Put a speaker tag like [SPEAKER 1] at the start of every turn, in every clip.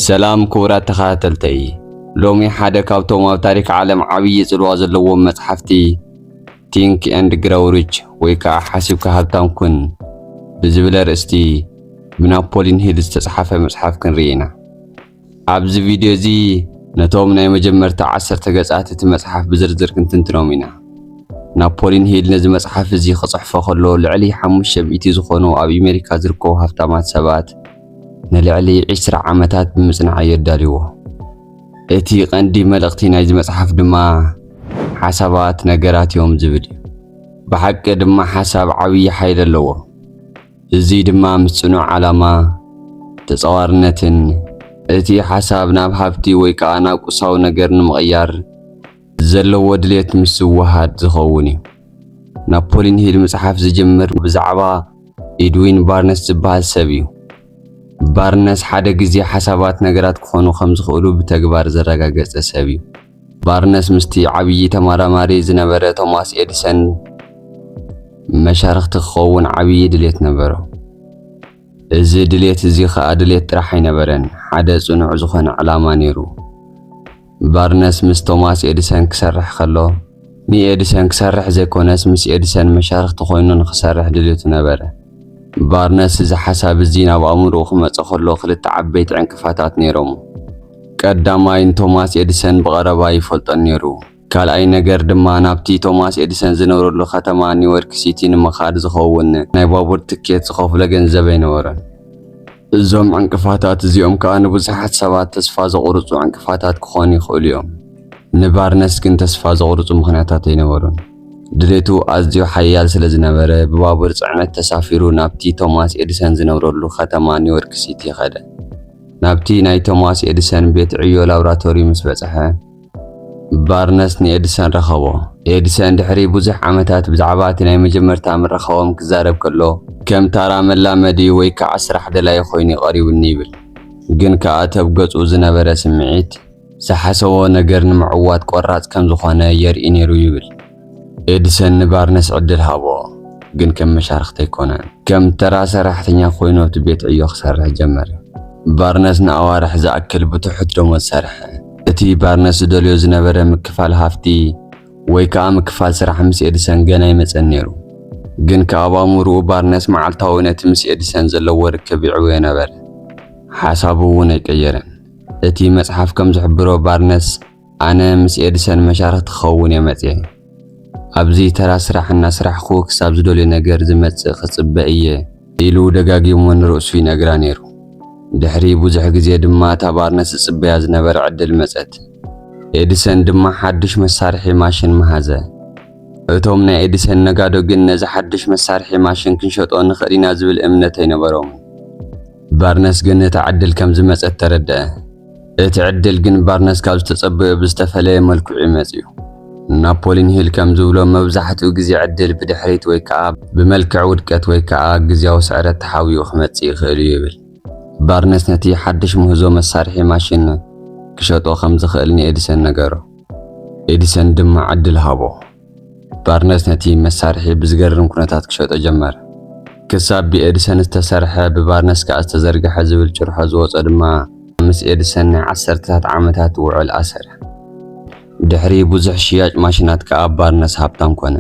[SPEAKER 1] ሰላም ክቡራት ተኸታተልተይ፣ ሎሚ ሓደ ካብቶም ኣብ ታሪክ ዓለም ዓብዪ ጽልዋ ዘለዎም መጽሓፍቲ ቲንክ ኤንድ ግረው ሪች ወይ ከዓ ሓሲብካ ሃብታም ኩን ብዝብል ኣርእስቲ ብናፖሊን ሂል ዝተጽሓፈ መጽሓፍ ክንርኢ ኢና። ኣብዚ ቪድዮ እዚ ነቶም ናይ መጀመርታ ዓሰርተ ገጻት እቲ መጽሓፍ ብዝርዝር ክንትንትኖም ኢና። ናፖሊን ሂል ነዚ መጽሓፍ እዚ ክጽሕፎ ከሎ ልዕሊ ሓሙሽተ ሚእቲ ዝኾኑ ኣብ ኣሜሪካ ዝርከቡ ሃብታማት ሰባት ንልዕሊ ዕስራ ዓመታት ብምጽናዕ እየ ኣዳልዎ። እቲ ቀንዲ መልእኽቲ ናይዚ መጽሓፍ ድማ ሓሳባት ነገራት እዮም ዝብል እዩ። ብሓቂ ድማ ሓሳብ ዓብዪ ሓይሊ ኣለዎ። እዙይ ድማ ምስ ጽኑዕ ዓላማ፣ ተጻዋርነትን እቲ ሓሳብ ናብ ሃብቲ ወይ ከዓ ናብ ቁሳዊ ነገር ንምቕያር ዘለዎ ድሌት ምስ ዝወሃድ ዝኸውን እዩ። ናፖሊን ሂል ምጽሓፍ ዝጅምር ብዛዕባ ኢድዊን ባርነስ ዝበሃል ሰብ እዩ። ባርነስ ሓደ ግዜ ሓሳባት ነገራት ክኾኑ ከም ዝኽእሉ ብተግባር ዘረጋገጸ ሰብ እዩ። ባርነስ ምስቲ ዓብዪ ተመራማሪ ዝነበረ ቶማስ ኤድሰን መሻርኽቲ ክኸውን ዓብዪ ድሌት ነበሮ። እዚ ድሌት እዚ ኸኣ ድሌት ጥራሕ ኣይነበረን፣ ሓደ ጽኑዕ ዝኾነ ዕላማ ነይሩ። ባርነስ ምስ ቶማስ ኤዲሰን ክሰርሕ ከሎ፣ ንኤዲሰን ክሰርሕ ዘይኮነስ ምስ ኤዲሰን መሻርኽቲ ኮይኑ ንኽሰርሕ ድሌቱ ነበረ። ባርነስ እዚ ሓሳብ እዚ ናብ ኣእምሮኡ ክመጾ ከሎ ክልተ ዓበይቲ ዕንቅፋታት ነይሮም። ቀዳማይ ንቶማስ ኤዲሰን ብቐረባ ኣይፈልጦን ነይሩ። ካልኣይ ነገር ድማ ናብቲ ቶማስ ኤዲሰን ዝነብረሉ ከተማ ኒወርክ ሲቲ ንምኻድ ዝኸውን ናይ ባቡር ትኬት ዝኸፍሎ ገንዘብ ኣይነበሮን። እዞም ዕንቅፋታት እዚኦም ከኣ ንብዙሓት ሰባት ተስፋ ዘቑርጹ ዕንቅፋታት ክኾኑ ይኽእሉ እዮም። ንባርነስ ግን ተስፋ ዘቑርጹ ምኽንያታት ኣይነበሩን። ድሌቱ ኣዝዩ ሓያል ስለ ዝነበረ ብባቡር ጽዕነት ተሳፊሩ ናብቲ ቶማስ ኤዲሰን ዝነብረሉ ከተማ ኒወርክ ሲቲ ከደ። ናብቲ ናይ ቶማስ ኤዲሰን ቤት ዕዮ ላብራቶሪ ምስ በጽሐ፣ ባርነስ ንኤድሰን ረኸቦ። ኤድሰን ድሕሪ ብዙሕ ዓመታት ብዛዕባ እቲ ናይ መጀመርታ ምርኻቦም ክዛረብ ከሎ፣ ከም ታራ መላመዲ ወይ ከኣ ስራሕ ደላዪ ዀይኑ'ዩ ቐሪቡኒ ይብል። ግን ከኣ ተብ ገጹ ዝነበረ ስምዒት፣ ዝሓሰቦ ነገር ንምዕዋት ቈራጽ ከም ዝዀነ የርኢ ነይሩ ይብል። ኤድሰን ንባርነስ ዕድል ሃቦ፣ ግን ከም መሻርኽቲ ኣይኰነን። ከም ተራ ሰራሕተኛ ኰይኑ ኣብቲ ቤት ዕዮ ክሰርሕ ጀመረ። ባርነስ ንኣዋርሕ ዝኣክል ብትሑት ደሞዝ ሰርሐ። እቲ ባርነስ ዝደልዮ ዝነበረ ምክፋል ሃፍቲ ወይ ከኣ ምክፋል ስራሕ ምስ ኤድሰን ገና ኣይመጸን ነይሩ። ግን ከኣ ኣብ ኣእምሮኡ ባርነስ መዓልታዊ ነቲ ምስ ኤድሰን ዘለዎ ርክብ ይዕብዮ ነበረ። ሓሳቡ እውን ኣይቀየረን። እቲ መጽሓፍ ከም ዝሕብሮ ባርነስ፣ ኣነ ምስ ኤድሰን መሻርኽቲ ክኸውን እየ መጺኤ። ኣብዚ ተራ ስራሕ እናስራሕኩ ክሳብ ዝደልዮ ነገር ዝመጽእ ክጽበ እየ። ኢሉ ደጋጊሙ ንርእሱ ይነግራ ነይሩ። ድሕሪ ብዙሕ ግዜ ድማ እታ ባርነስ ዝጽበያ ዝነበረ ዕድል መጸት። ኤድሰን ድማ ሓድሽ መሳርሒ ማሽን መሃዘ። እቶም ናይ ኤድሰን ነጋዶ ግን ነዚ ሓድሽ መሳርሒ ማሽን ክንሸጦ ንኽእል ኢና ዝብል እምነት ኣይነበሮምን። ባርነስ ግን እታ ዕድል ከም ዝመጸት ተረድኣ። እቲ ዕድል ግን ባርነስ ካብ ዝተጸበዮ ብዝተፈለየ መልክዑ እዩ መጺኡ። ናፖሊን ሂል ከም ዝብሎ መብዛሕትኡ ግዜ ዕድል ብድሕሪት ወይ ከኣ ብመልክዕ ውድቀት ወይ ከኣ ግዝያዊ ስዕረት ተሓቢኡ ክመጽእ ይኽእል እዩ ይብል። ባርነስ ነቲ ሓድሽ ምህዞ መሳርሒ ማሽን ክሸጦ ከም ዝኽእል ንኤድሰን ነገሮ፣ ኤድሰን ድማ ዕድል ሃቦ። ባርነስ ነቲ መሳርሒ ብዝገርም ኩነታት ክሸጦ ጀመረ። ክሳብ ብኤድሰን ዝተሰርሐ ብባርነስ ከኣ ዝተዘርግሐ ዝብል ጭርሖ ዝወጾ ድማ ምስ ኤድሰን ናይ ዓሰርተታት ዓመታት ውዕል ኣሰረ። ድሕሪ ብዙሕ ሽያጭ ማሽናት ከኣ ባርነስ ሃብታም ኮነ።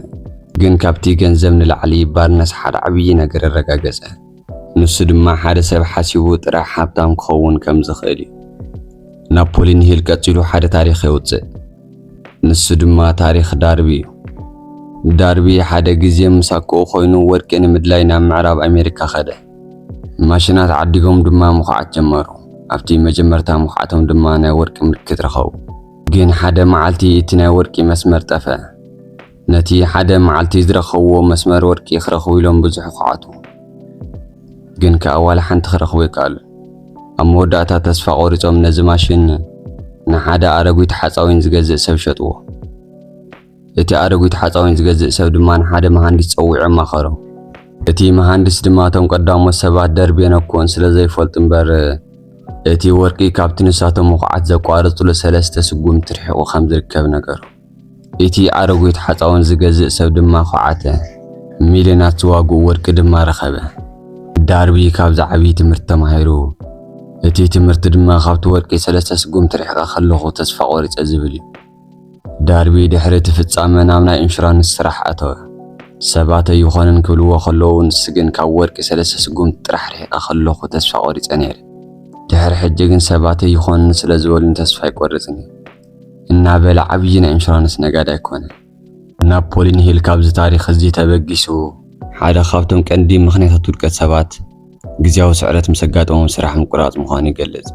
[SPEAKER 1] ግን ካብቲ ገንዘብ ንላዕሊ ባርነስ ሓደ ዓብዪ ነገር ኣረጋገጸ። ንሱ ድማ ሓደ ሰብ ሓሲቡ ጥራሕ ሃብታም ክኸውን ከም ዝኽእል እዩ። ናፖሊን ሂል ቀጺሉ ሓደ ታሪኽ የውጽእ። ንሱ ድማ ታሪኽ ዳርቢ እዩ። ዳርቢ ሓደ ግዜ ምስ ኣኮኡ ኮይኑ ወርቂ ንምድላይ ናብ ምዕራብ ኣሜሪካ ከደ። ማሽናት ዓዲጎም ድማ ምኹዓት ጀመሩ። ኣብቲ መጀመርታ ምኹዓቶም ድማ ናይ ወርቂ ምልክት ረኸቡ። ግን ሓደ መዓልቲ እቲ ናይ ወርቂ መስመር ጠፍኣ። ነቲ ሓደ መዓልቲ ዝረኸብዎ መስመር ወርቂ ክረኽቡ ኢሎም ብዙሕ ይኹዓቱ፣ ግን ከኣ ዋላ ሓንቲ ክረኽቡ ኣይከኣሉን። ኣብ መወዳእታ ተስፋ ቆሪጾም ነዚ ማሽን ንሓደ ኣረጒት ሓጻዊን ዝገዝእ ሰብ ሸጥዎ። እቲ ኣረጒት ሓጻዊን ዝገዝእ ሰብ ድማ ንሓደ መሃንዲስ ጸዊዑ ኣማኸሮ። እቲ መሃንዲስ ድማ እቶም ቀዳሞት ሰባት ደርቤን ኣኮን ስለ ዘይፈልጡ እምበር እቲ ወርቂ ካብቲ ንሳቶም ምኹዓት ዘቋረጹሉ ሰለስተ ስጉምቲ ርሒቑ ከም ዝርከብ ነገሮ። እቲ ኣረጒት ሓጻውን ዝገዝእ ሰብ ድማ ኰዓተ፣ ሚልዮናት ዝዋግኡ ወርቂ ድማ ረኸበ። ዳርቢ ካብዚ ዓብዪ ትምህርቲ ተማሂሩ። እቲ ትምህርቲ ድማ ካብቲ ወርቂ ሰለስተ ስጉምቲ ርሒቐ ከለኹ ተስፋ ቈሪጸ ዝብል እዩ። ዳርቢ ድሕሪ እቲ ፍጻመ ናብ ናይ ኢንሹራንስ ስራሕ ኣተወ። ሰባት ኣይኾነን ክብልዎ ከለዉ ንሱ ግን ካብ ወርቂ ሰለስተ ስጉምቲ ጥራሕ ርሒቐ ከለኹ ተስፋ ቈሪጸ ነይረ። ድሕሪ ሕጂ ግን ሰባት ኣይኾነን ስለ ዝበሉኒ ተስፋ ኣይቈርጽን እየ። እናበለ ዓብዪ ናይ ኢንሹራንስ ነጋዳይ ኮነ። ናፖሊን ሂል ካብዚ ታሪኽ እዚ ተበጊሱ፣ ሓደ ካብቶም ቀንዲ ምኽንያታት ውድቀት ሰባት ግዝያዊ ስዕረት ምስ ኣጋጠሞም ስራሕ ምቁራጽ ምዃኑ ይገልጽ።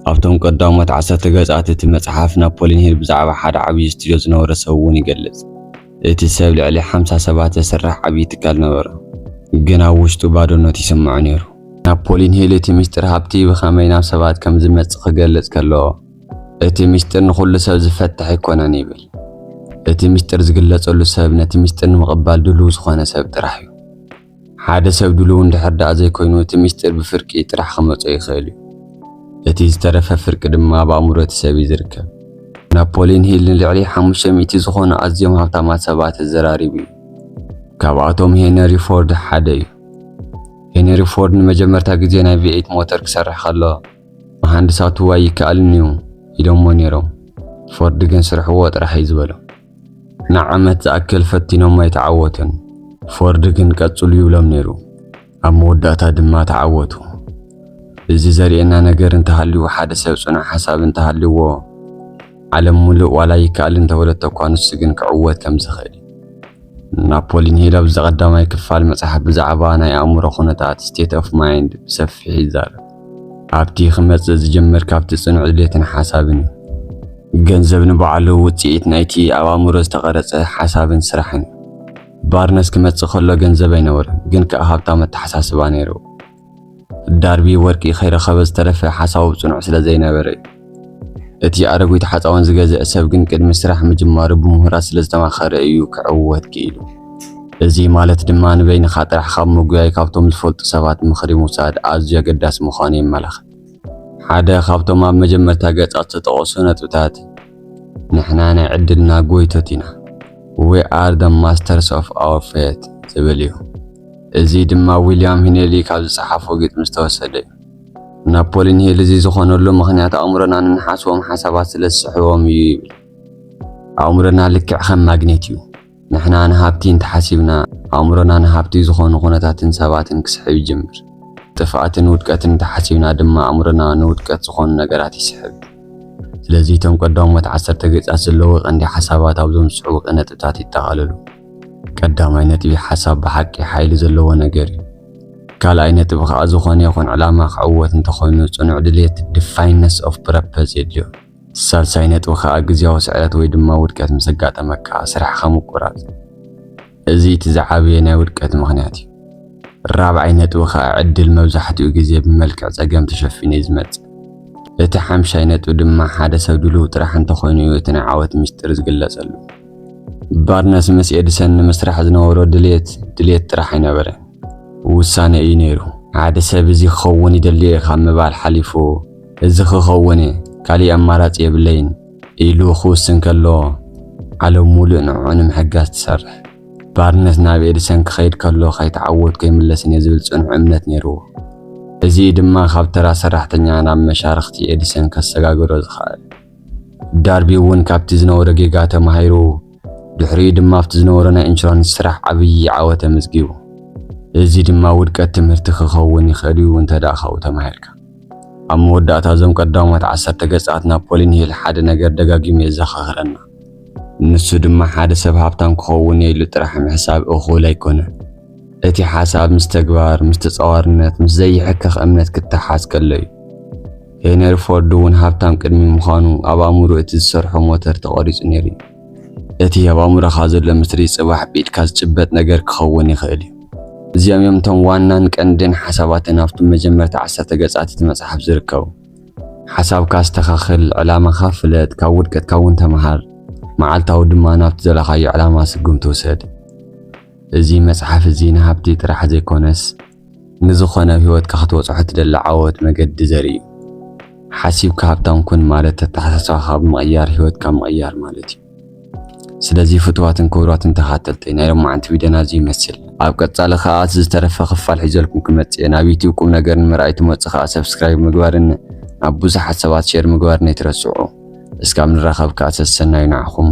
[SPEAKER 1] ኣብቶም ቀዳሞት ዓሰርተ ገጻት እቲ መጽሓፍ ናፖሊን ሂል ብዛዕባ ሓደ ዓብዪ ስቱድዮ ዝነበሮ ሰብ እውን ይገልጽ። እቲ ሰብ ልዕሊ ሓምሳ ሰባት ዘስርሕ ዓብዪ ትካል ነበሮ፣ ግን ኣብ ውሽጡ ባዶነት ይስምዖ ነይሩ። ናፖሊን ሂል እቲ ምስጢር ሃብቲ ብኸመይ ናብ ሰባት ከም ዝመጽእ ክገልጽ ከሎ፣ እቲ ምስጢር ንኹሉ ሰብ ዝፈትሕ ኣይኮነን ይብል። እቲ ምስጢር ዝግለጸሉ ሰብ ነቲ ምስጢር ንምቕባል ድሉው ዝኾነ ሰብ ጥራሕ እዩ። ሓደ ሰብ ድሉው እንድሕር ደኣ ዘይኮይኑ እቲ ምስጢር ብፍርቂ ጥራሕ ክመጾ ይኽእል እዩ። እቲ ዝተረፈ ፍርቂ ድማ ኣብ ኣእምሮ እቲ ሰብ እዩ ዝርከብ። ናፖሊን ሂል ንልዕሊ ሓሙሽተ ሚእቲ ዝኾኑ ኣዝዮም ሃብታማት ሰባት ኣዘራሪቡ እዩ። ካብኣቶም ሄነሪ ፎርድ ሓደ እዩ። ሄነሪ ፎርድ ንመጀመርታ ግዜ ናይ ቪኤይት ሞተር ክሰርሕ ከሎ መሃንድሳቱ ኣይከኣልን እዩ ኢሎሞ ነይሮም። ፎርድ ግን ስርሕዎ ጥራሕ እዩ ዝበሎም። ንዓመት ዝኣክል ፈቲኖሞ ኣይተዓወቱን። ፎርድ ግን ቀጽሉ ይብሎም ነይሩ። ኣብ መወዳእታ ድማ ተዓወቱ። እዚ ዘርእየና ነገር እንተሃልዩ ሓደ ሰብ ጽኑዕ ሓሳብ እንተሃልዩዎ ዓለም ሙሉእ ዋላ ይከኣል እንተበለቶ እኳ ንሱ ግን ክዕወት ከም ዝኽእል ናፖሊ ሂል ኣብዚ ቀዳማይ ክፋል መጽሓፍ ብዛዕባ ናይ ኣእምሮ ኩነታት ስቴት ኦፍ ማይንድ ብሰፊሕ ይዛረብ። ኣብቲ ክመጽእ ዝጀምር ካብቲ ጽኑዕ ድሌትን ሓሳብን እዩ። ገንዘብ ንባዕሉ ውጽኢት ናይቲ ኣብ ኣእምሮ ዝተቐረጸ ሓሳብን ስራሕን እዩ። ባርነስ ክመጽእ ከሎ ገንዘብ ኣይነበሮን፣ ግን ከኣ ሃብታም ኣተሓሳስባ ነይርዎ። ዳርቢ ወርቂ ከይረኸበ ዝተረፈ ሓሳቡ ጽኑዕ ስለ ዘይነበረ እዩ። እቲ ኣረጉት ሓፃውን ዝገዝእ ሰብ ግን ቅድሚ ስራሕ ምጅማሩ ብምሁራት ስለ ዝተማኸረ እዩ ክዕወት ክኢሉ። እዚ ማለት ድማ ንበይንኻ ጥራሕ ካብ ምጉያይ ካብቶም ዝፈልጡ ሰባት ምኽሪ ምውሳድ ኣዝዩ ኣገዳሲ ምዃኑ የመላኽት። ሓደ ካብቶም ኣብ መጀመርታ ገጻት ዝተጠቐሱ ነጥብታት ንሕና ናይ ዕድልና ጎይቶት ኢና፣ We are the masters of our fate ዝብል እዩ። እዚ ድማ ዊልያም ሂነሊ ካብ ዝጸሓፎ ግጥሚ ዝተወሰደ እዩ። ናፖሊን ሂል እዚ ዝኾነሉ ምኽንያት ኣእምሮና ንንሓስቦም ሓሳባት ስለ ዝስሕቦም እዩ ይብል። ኣእምሮና ልክዕ ከም ማግኔት እዩ። ንሕና ንሃብቲ እንተሓሲብና፣ ኣእምሮና ንሃብቲ ዝኾኑ ኩነታትን ሰባትን ክስሕብ ይጅምር። ጥፍኣትን ውድቀትን እንተሓሲብና ድማ ኣእምሮና ንውድቀት ዝኾኑ ነገራት ይስሕብ። ስለዚ እቶም ቀዳሞት ዓሰርተ ገጻት ዘለዉ ቀንዲ ሓሳባት ኣብዞም ዝስዕቡ ቅነጥብታት ይጠቓለሉ። ቀዳማይ ነጥቢ ሓሳብ ብሓቂ ሓይሊ ዘለዎ ነገር እዩ። ካልኣይ ነጥቢ ከዓ ዝኾነ ይኹን ዕላማ ክዕወት እንተኾይኑ ፅኑዕ ድሌት ዲፋይነስ ኦፍ ፕረፐዝ የድልዮ። ሳልሳይ ነጥቢ ከዓ ግዝያዊ ስዕረት ወይ ድማ ውድቀት ምስ ኣጋጠመካ ስራሕኻ ምቁራፅ እዚ እቲ ዝዓበየ ናይ ውድቀት ምኽንያት እዩ። ራብዓይ ነጥቢ ከዓ ዕድል መብዛሕትኡ ግዜ ብመልክዕ ፀገም ተሸፊኑ እዩ ዝመፅእ። እቲ ሓምሻይ ነጥቢ ድማ ሓደ ሰብ ድሉው ጥራሕ እንተኾይኑ እዩ እቲ ናይ ዓወት ሚስጥር ዝግለፀሉ። ባርነስ ምስ ኤድሰን ንምስራሕ ዝነበሮ ድሌት ድሌት ጥራሕ ኣይነበረ፣ ውሳነ እዩ ነይሩ። ሓደ ሰብ እዚ ክኸውን ይደሊ እየ ካብ ምባል ሓሊፉ እዚ ክኸውን እየ ካሊእ ኣማራፂ የብለይን ኢሉ ክውስን ከሎ ዓለም ሙሉእ ንዕዑ ንምሕጋዝ ትሰርሕ። ባርነስ ናብ ኤድሰን ክኸይድ ከሎ ከይተዓወትኩ ኣይምለስን እየ ዝብል ፅኑዕ እምነት ነይርዎ። እዚ እዩ ድማ ካብ ተራ ሰራሕተኛ ናብ መሻርኽቲ ኤድሰን ከሰጋግሮ ዝኸኣለ። ዳርቢ እውን ካብቲ ዝነበሮ ጌጋ ተማሂሩ፣ ድሕሪኡ ድማ ኣብቲ ዝነበሮ ናይ ኢንሹራንስ ስራሕ ዓብዪ ዓወት ኣመዝጊቡ። እዚ ድማ ውድቀት ትምህርቲ ክኸውን ይኽእል እዩ እንተድኣ ካብኡ ተማሂርካ። ኣብ መወዳእታ እዞም ቀዳሞት ዓሰርተ ገጻት ናፖሊን ሂል ሓደ ነገር ደጋጊሙ የዘኻኽረና። ንሱ ድማ ሓደ ሰብ ሃብታም ክኸውን እየ ኢሉ ጥራሕ ምሕሳብ እኹል ኣይኮነን። እቲ ሓሳብ ምስ ተግባር፣ ምስ ተጻዋርነት፣ ምስ ዘይሕከኽ እምነት ክተሓሓዝ ከሎ እዩ። ሄነሪ ፎርድ እውን ሃብታም ቅድሚ ምዃኑ ኣብ ኣእምሮ እቲ ዝሰርሖ ሞተር ተቐሪጹ ነይሩ እዩ። እቲ ኣብ ኣእምሮኻ ዘሎ ምስሊ ጽባሕ ብኢድካ ዝጭበጥ ነገር ክኸውን ይኽእል እዩ። እዚኦም እዮም እቶም ዋናን ቀንድን ሓሳባትን ኣብቲ መጀመርታ ዓሰርተ ገጻት እቲ መጽሓፍ ዝርከቡ። ሓሳብካ ኣስተኻኽል፣ ዕላማኻ ፍለጥ፣ ካብ ውድቀትካ እውን ተመሃር፣ መዓልታዊ ድማ ናብቲ ዘለኻዮ ዕላማ ስጉምቲ ውሰድ። እዚ መጽሓፍ እዚ ንሃብቲ ጥራሕ ዘይኰነስ ንዝኾነ ኣብ ህይወትካ ክትበጽሖ ትደሊ ዓወት መገዲ ዘርኢ እዩ። ሓሲብካ ሃብታም ኩን ማለት ኣተሓሳስባኻ ብምቕያር ህይወትካ ምቕያር ማለት እዩ። ስለዚ ፍትዋትን ክብሯትን ተኻተልተይ ናይ ሎማዓንቲ ቪድዮና እዚ ይመስል። ኣብ ቀጻሊ ከኣ እቲ ዝተረፈ ክፋል ሒዘልኩም ክመጽእ እየ። ናብ ዩቱብ ቁም ነገር ንምርኣይ ትመጹ ከኣ ሰብስክራይብ ምግባርን ናብ ብዙሓት ሰባት ሼር ምግባርን ኣይትረስዑ። እስካብ ንራኸብ ከኣ ሰሰናዩ ንዓኹም።